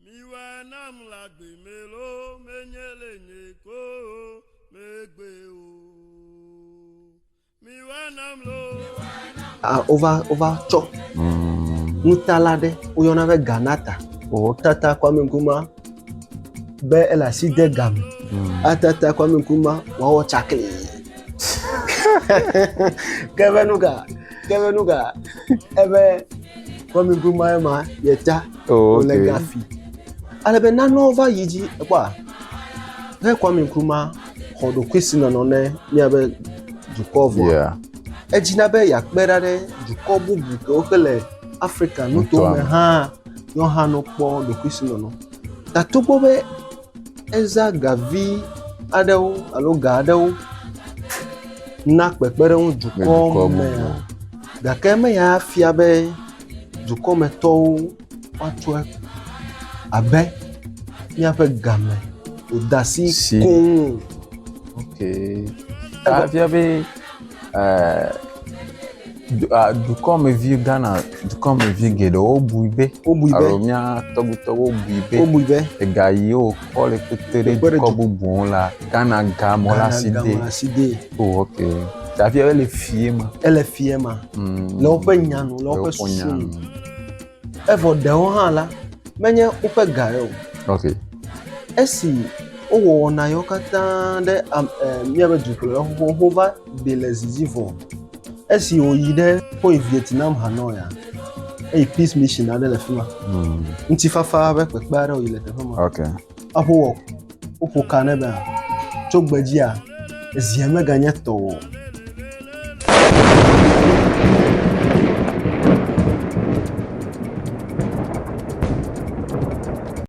Miwɔe nam le agbe me lo, menye le nye ko o, megbe o. Miwɔe nam lo. Ah, wova wova tsɔ nutala aɖe woyɔna be ganata wòtata kwame nkrumah be ele asi de ga me atata kwame nkrumah wòawɔ tsakli ke be nu ka ke be nu ka ebe kwame nkrumah ye ma yeta Oh, wòle okay. gafi. Ale be nanewo va yi dzi ekpɔa, ne Kwame Nkrumah xɔ ɖokuisinɔnɔ ne míabe dukɔ vɔa, Yeah. edzina be yeakpe ɖa ɖe dukɔ bubu kewo ke le Afrika nutoa Nutoa me me. hã ne wohã no kpɔ ɖokuisinɔnɔ. Ta togbɔ be eza ga vi aɖewo alo ga aɖewo na kpekpeɖeŋu Le dukɔ dukɔa me mea, gake meya fia be dukɔmetɔwo woatsɔe abe míaƒe game ƒodasi koŋ o. Ok. Efia be eh, du- ah, dukɔmevi Ghana dukɔmevi geɖewo bui be Wobui be. alo mía tɔgbuitɔwo bui be Wobui be. ega yiwo kɔ le kpekpe ɖe Kpekpe ɖe dukɔ du- bubuwo la Ghana ga mɔ la si de Ghana gamɔ̃ asi dee. Oh, ok. Ta fia ele fie ma. Ele fie ma. Mm. Le woƒe nya nu, le woƒe susu nu. Evɔ ɖewo hã la, menye woƒe ga yɔ. Ok. Esi wowɔ wɔna yewo katã ɖe am ɛ eh, míaƒe dukplɔla xoxo va ɖi le zizi vɔ. Esi wòyi ɖe woyi Vietnam Hanoi ya eye peace mission aɖe le fi ma. Hmm. Ŋutifafa ƒe kpekpe aɖe wòyi le teƒe ma. Ok. Aƒo wɔ woƒo ka ne be tso gbe dzia ezia meganye tɔ o.